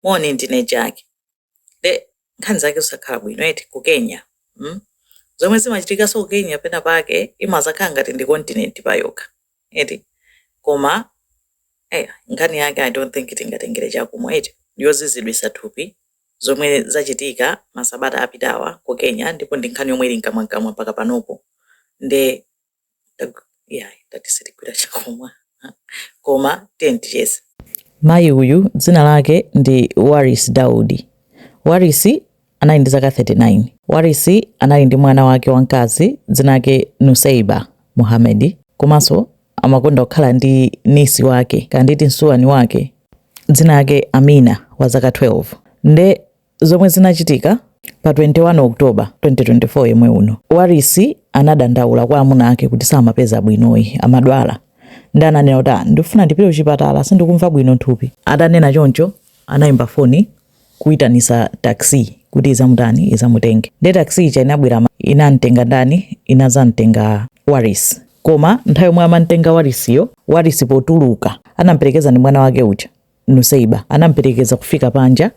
moni ndine jack de nkhani zake zosakhala bwino eti ku kenya mm? zomwe zimachitikanso ku kenya pena pake imazakhala ngati ndi kontinenti payokha eti koma eya nkhani yake i don't think tingatengere chakumwa eti yoziziritsa thupi zomwe zachitika masabata apitawa ku kenya ndipo ndi nkhani yomwe ili mkamwamkamwa mpaka panopo nde Nde ya ngati sitigwira chakumwa ah, koma tiye ticheze mayi uyu dzina lake ndi waris daudi waris anali ndi zaka 39 waris anali ndi mwana wake wamkazi dzina lake nuseiba muhamedi komanso amakonda kukhala ndi niece wake kanditi msuwani wake dzina lake amina wa zaka 12 nde Zomwe zinachitika pa 21 October 2024 yomwe uno, Waris anadandaula kwa amuna ake kuti samapeza bwinoyi, amadwala ndi ananena kuti ah, ndikufuna ndipite kuchipatala sindikumva bwino nthupi. Atanena choncho anayimba foni kuitanisa taxi kuti izamutani izamutenge, nde taxi ija inabwera inamtenga ndani, inazamtenga Waris. Koma nthawi yomwe amamtenga Warisiyo, Warisi potuluka anamperekeza ndi mwana wake uja Nuseiba anamperekeza kufika panja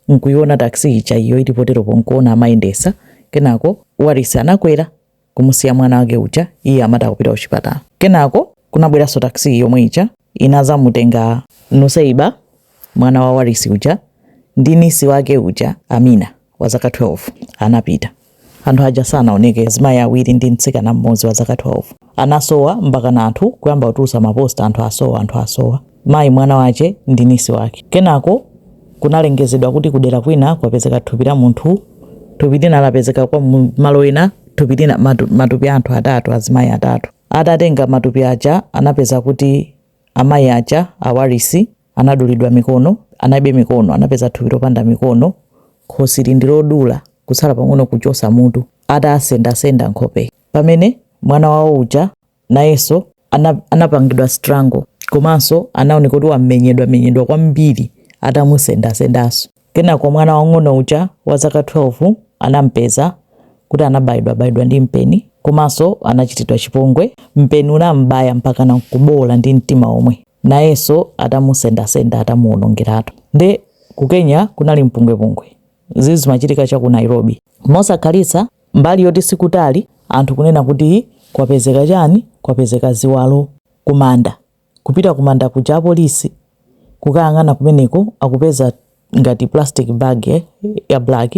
nkuiona taxi ija iyo ili poteropo nkuona amayendesa kenako Waris anakwera kumusiya mwana wake uja iye amati akupita kuchipatala kenako kunabweranso taxi yomwe ija inazamutenga Nuseiba mwana wa Waris uja ndi niece wake uja Amina. wa zaka 12 anapita. Anthu aja sanaoneke. Azimayi awiri ndi mtsikana mmodzi wa zaka 12 anasowa mpakana anthu kuyamba kutulutsa maposta anthu asowa, anthu asowa. Mayi, mwana wache ndi niece wake. Kenako kunalengezedwa kuti kudera kwina kwapezeka thupi la munthu, thupi lina lapezeka kwa malo ena, thupi lina, matupi a anthu atatu, azimayi atatu. Atatenga matupi aja anapeza kuti amayi aja a Warisi anadulidwa mikono, analibe mikono, anapeza thupi lopanda mikono, khosi lili ndi lodula, kutsala pang'ono kuchosa mutu, atasendasenda nkhope. Pamene mwana wawo uja nayenso anapangidwa strangle komanso anaoneka kuti wamenyedwa menyedwa kwambiri atamusendasendanso. Kenako mwana wang'ono uja wa zaka 12 anampeza kuti anabayidwa bayidwa ndi mpeni komanso anachitidwa chipongwe. Mpeni unambaya mpakana kuboola ndi mtima omwe. nayenso atamusendasenda atamuwonongeratu nde ku Kenya kunali mpungwepungwe zizi zimachitika cha ku Nairobi mosakhalitsa mbali yoti sikutali anthu kunena kuti kwapezeka chani kwapezeka ziwalo kumanda kupita kumanda kuja apolisi kukayang'ana kumeneko akupeza ngati plastic bag eh, ya black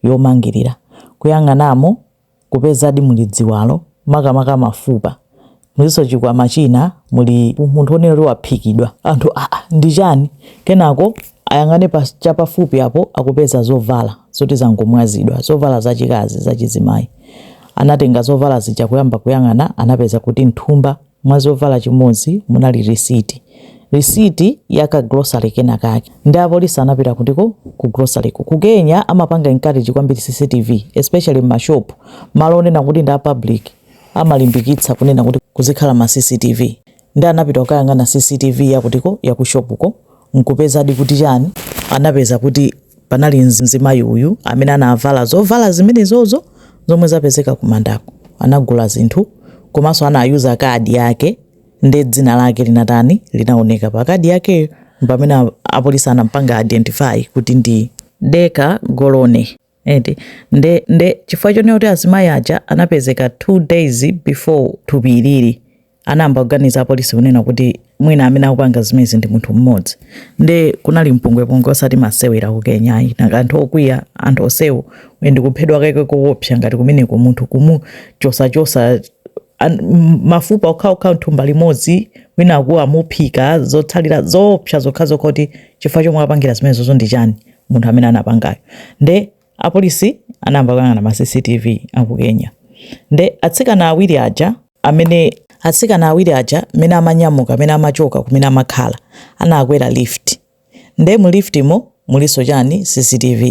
yomangirira kuyang'anamo kupezadi muli ziwalo makamaka mafupa mulinso chikwama china muli munthu oneneka kuti waphikidwa anthu aa ndi chani kenako ayang'ane chapafupi apo akupeza zovala zoti zangomwazidwa zovala zachikazi zachizimayi anatenga zovala zija kuyamba kuyang'ana anapeza kuti nthumba Mwa zovala chimodzi munali risiti. Risiti ya ka grocery kena kake. Nde apolisi anapita kutiko? Ku grocery ko. Ku Kenya amapanga encourage kwambiri CCTV especially mma shop. Malo onena kuti ndi a public amalimbikitsa kunena kuti kuzikhala ma CCTV. Nde anapita kukayang'ana CCTV ya kutiko? Ya ku shop ko. n'kupezadi kuti chani anapeza kuti panali mzimayi uyu amene anavala zovala zimenezozo zomwe zapezeka kumandako anagula zinthu komanso anayuza kadi yake nde dzina lake linatani linaoneka pa kadi yakeyo pamene apolisi anampanga identify kuti ndi Deka Golone nde nde chifukwa chonena kuti azimayi aja anapezeka 2 days before thupi ilili anayamba kuganiza apolisi kunena kuti mwina amene akupanga zimezi ndi munthu mmodzi nde kunali mpungwepungwe osati masewera ku kenya ayi nanga anthu okwiya anthu onsewo uye ndi kuphedwa kake koopsa ngati kumeneko munthu kumuchosachosa an- m- mafupa okhaokha mthumba limodzi wina akuti amuphika zotsalira zoopsa zokhazokha kuti chifukwa chomwe apangira zimenezozo ndi chani munthu amene anapangayo nde apolisi anayamba kuyang'ana ma cctv aku kenya nde atsikana awiri aja amene atsikana awiri aja mene amanyamuka mene amachoka kumene amakhala anakwera lift nde mu lift mo muliso chani cctv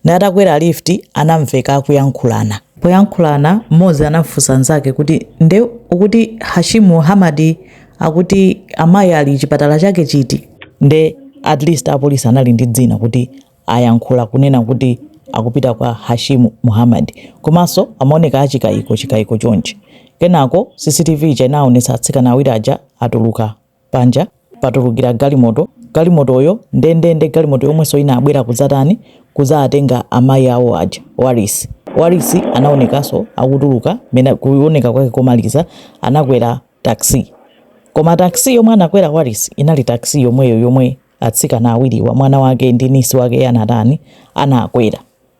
nde atakwera lift anamveka akuyankhulana poyankhulana mmodzi anamfunsa nzake kuti nde ukuti hashimu muhamadi akuti amayi ali chipatala chake chiti nde at least apolisi anali ndi dzina kuti ayankhula kunena kuti akupita kwa Hashimu Muhammad komanso amaoneka achikayiko chikayiko chonchi kenako CCTV ija inaonetsa atsikana awiri aja atuluka panja patulukira galimoto galimotoyo ndendende galimoto yomwenso inabwera kudzatani kudzatenga amayi awo aja Warisi Warisi anaonekanso akutuluka ndiye kuoneka kwake komaliza anakwera taxi. Koma taxi yomwe anakwera Warisi inali taxi yomweyo yomwe atsikana awiriwa mwana wake ndi nisi wake anatani anakwera.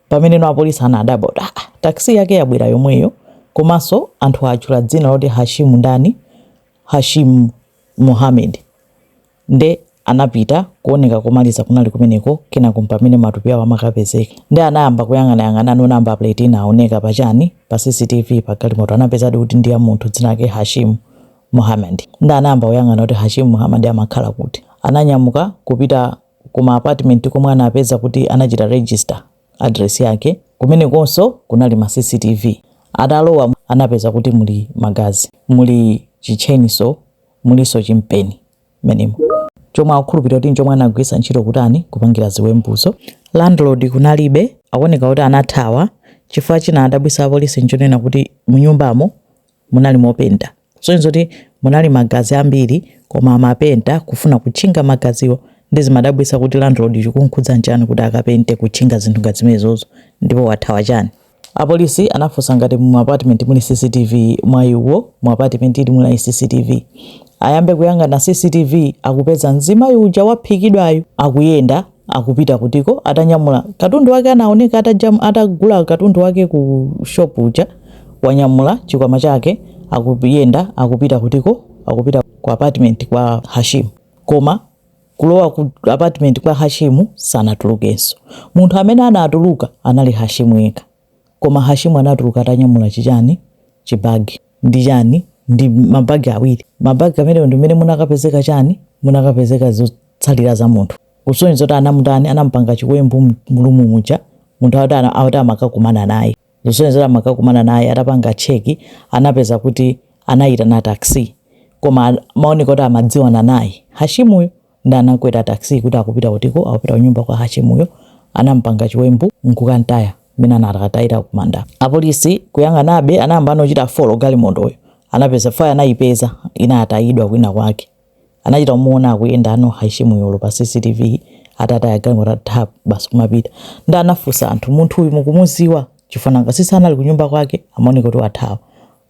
Pameneno apolisi anadabwa kuti ah, taxi yake yabwera yomweyo komanso anthu atchula dzina loti Hashim ndani Hashim Mohammed. Nde anapita, kuoneka komaliza kunali kumeneko, kenako pamene matupi awo amakapezeka. Nde anayamba kuyang'anayang'ana number plate inaoneka pa chani, pa CCTV pa galimoto anapezadi kuti ndi ya munthu dzina lake Hashimu Muhammad. Nde anayamba kuyang'ana kuti Hashimu Muhammad amakhala kuti. Ananyamuka kupita ku ma apartment komwe anapeza kuti anachita register address yake, kumenekonso kunali ma CCTV. Atalowa anapeza kuti muli magazi, muli chi chainsaw, mulinso chimpeni mmenemo chomwe akukhulupirira kuti nchomwe anagwiritsa ntchito kutani kupangira ziwembuzo. Landlord kunalibe, akuoneka kuti anathawa chifukwa chinawadabwitsa apolisi nchonena kuti munyumbamo munali mopenta sonyezo kuti munali magazi ambiri koma amapenta kufuna kutchinga magaziwo nde zimadabwisa kuti landlord chikunkhudza nchani kuti akapente kutchinga zinthu ngati zimenezozo ndipo wathawa chani. Apolisi anafunsa ngati mu apartment muli CCTV mwayi wawo mu apartment ili munali CCTV. Ayambe kuyang'ana CCTV akupeza mzimayi uja waphedwayu akuyenda akupita kutiko atanyamula katundu wake anaoneka atajam, atagula katundu wake ku shop uja wanyamula chikwama chake akuyenda akupita kutiko akupita ku apartment kwa Hashim koma kulowa ku apartment kwa Hashimu sanatulukenso. Munthu amene anatuluka anali Hashimu yekha. Koma Hashimu anatuluka atanyamula chichani, chibagi ndi chani, ndi mabagi awiri. Mabagi amenewo ndi momwe munakapezeka chani, munakapezeka zotsalira za munthu. Kusonyeza kuti anamutani, anamupanga chiwembu mu room muja, munthu akuti amakakumana naye. Zosonyeza amakakumana naye atapanga check anapeza kuti anayitana taxi koma amaoneka kuti amadziwana naye Hashimuyo nde anakwera taxi kuti akupita kutiko akupita kunyumba kwa Hashimuyo anampanga chiwembu nkukantaya mmene anakatayira kumanda. Apolisi kuyang'anabe anayamba kuchita follow galimotoyo anapeza kuti anayipeza inatayidwa kwina kwake. anachita kumuona akuyenda ali yekha Hashimuyo pa cctv atataya galimoto ati tap! basi kumapita nde anafunsa anthu munthu uyu mukumuziwa? chifukwa nanga si sanali kunyumba kwake amaoneka kuti wathawa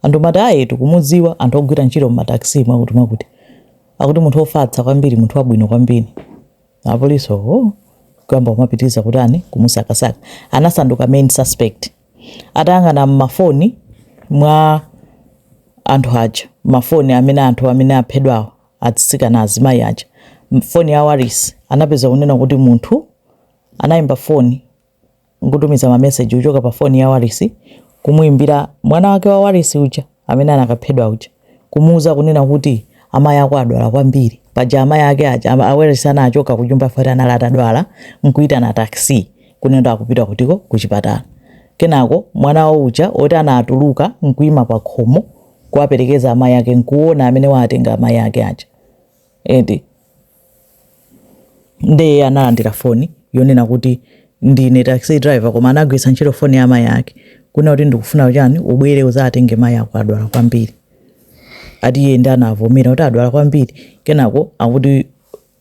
anthu amati ayi tikumuziwa anthu ogwira ntchito mma taxi mwakuti mwakuti akuti munthu ofatsa kwambiri munthu wabwino kwambiri apolisi owo kuyamba kumapitiliza kutani kumusakasaka anasanduka main suspect. atayang'ana mmafoni mwa anthu aja mafoni amene anthu amene aphedwawo atsikana azimayi aja foni ya Waris anapeza kunena kuti munthu anayimba foni nkutumiza mameseji kuchoka pa foni ya Waris kumuimbira mwana wake wa Waris uja amene anakaphedwa uja, kumuuza kunena kuti amayi ako adwala kwambiri. Paja amayi ake aja a Warisi anachoka kunyumba chifukwa kuti anali atadwala n'kuitana taxi kunena kuti akupita kutiko kuchipatala. Kenako mwana wawo uja woti anatuluka n'kuima pakhomo kuwaperekeza amayi ake n'kuona amene waatenga amayi ake aja eti. nde iye analandira foni yonena kuti ndine taxi driver koma anagwitsa ntchito foni ya mayi ake kunena kuti ndikufuna chani ubwere uzatenge mayi ako adwala kwambiri ati iye ndi anavomera kuti adwala kwambiri kenako akuti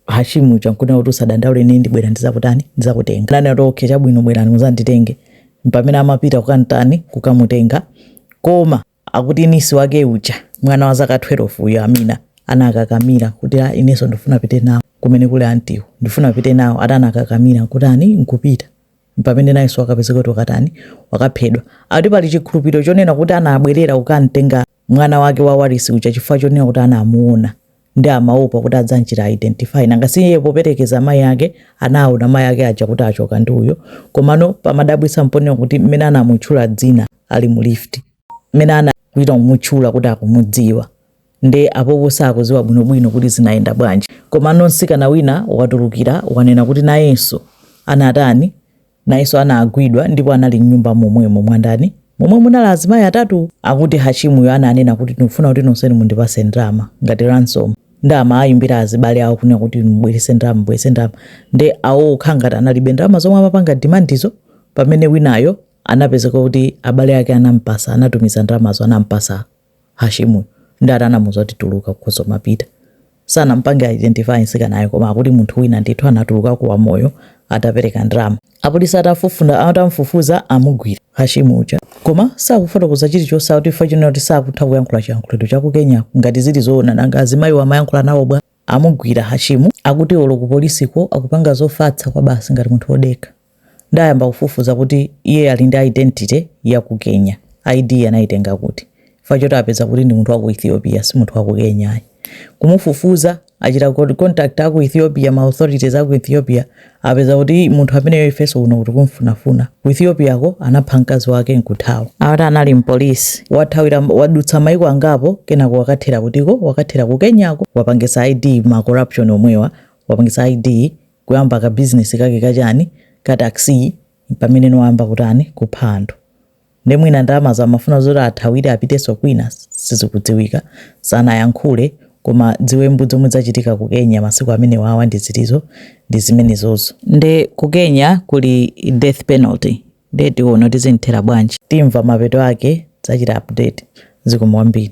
hashimu n'kunena kuti usadandaule ine ndibwera ndizakutani ndizakutenga nani ati okay chabwino bwerani muzanditenge mpamene amapita kukantani kukamutenga koma akuti nisi wake uja mwana wa zaka 12 uyo amina anakakamira kuti ineso ndifuna pite nawo kumene kuli antiko ndifuna pite nawo atakakamira nkutani nkupita mpamene nayenso wakapezeka kuti wakatani wakaphedwa akuti pali chikhulupiriro chonena kuti anabwerera kukamtenga mwana wake wa warisi uja chifukwa chonena kuti anamuona nde amaopa kuti adzamchita identify nanga si iye poperekeza amayi ake anaona amayi ake aja kuti achoka ndi uyo komano pomadabwitsa mponena kuti mmene anamutchula dzina ali mu lift mmene anachita kumutchula kuti akumudziwa nde apopo sakudziwa bwinobwino kuti zinayenda bwanji komano mtsikana wina watulukira wanena kuti nayenso anatani Nayeso anagwidwa ndipo anali mnyumba momwemo mwandani momwe munali azimayi atatu akuti Hashimuyo ananena kuti ndikufuna kuti nonsenu mundipase ndalama ngati ransom nde amawayimbira azibale awo kunena kuti mubwerese ndalama mubwerese ndalama nde awo akhala ngati analibe ndalama zomwe amapanga demandizo pamene winayo anapezeka kuti abale ake anampasa anatumiza ndalamazo anampasa Hashimuyo nde ati anamuuza kuti tuluka ukhoza kumapita? Sanam'pange identify mtsikanayo koma akuti munthu wina ndithu anatulukako wamoyo atapereka ndalama. Apolisi atafufu atamufufuza amugwira Hashimu uja koma sakufotokoza chilichonse akuti chifukwa chonena kuti sakutha kuyankhula chiyankhulo cha ku Kenyako. Ngati zili zoona nanga azimayiwo amayankhula nawo bwa? Amugwira Hashimu akuti olo ku polisiko akupanga zofatsa kwabasi ngati munthu odekha. Nde ayamba kufufuza kuti iye ali ndi identity ya ku Kenya. ID anaitenga kuti? Chifukwa choti apeza kuti ndi munthu wa ku Ethiopia si munthu wa ku Kenya ayi. Kumufufuza achita contact a ku Ethiopia ma authorities a ku Ethiopia apeza kuti munthu ameneyo ifenso kuno tikumfunafuna ku ethiopiako anapha mkazi wake nkuthawa ati anali mpolisi wathawira wadutsa maiko angapo kenako wakathera kutiko wakathera ku kenyako wapangisa id ma corruption omwewa wapangisa id kuyamba ka business kake kachani ka taxi pamene nde wayamba kutani kupha anthu Nde mwina ndalamazo amafuna zoti athawire apitenso kwina sizikudziwika. Sanayankhule koma dziwembu dzomwe dzachitika ku Kenya masiku amenewawa ndi zilizo ndi zimenezozo. Nde ku Kenya kuli death penalty nde tiona kuti zimthera bwanji. Timva mapeto ake tidzachita update. Zikomo kwambiri.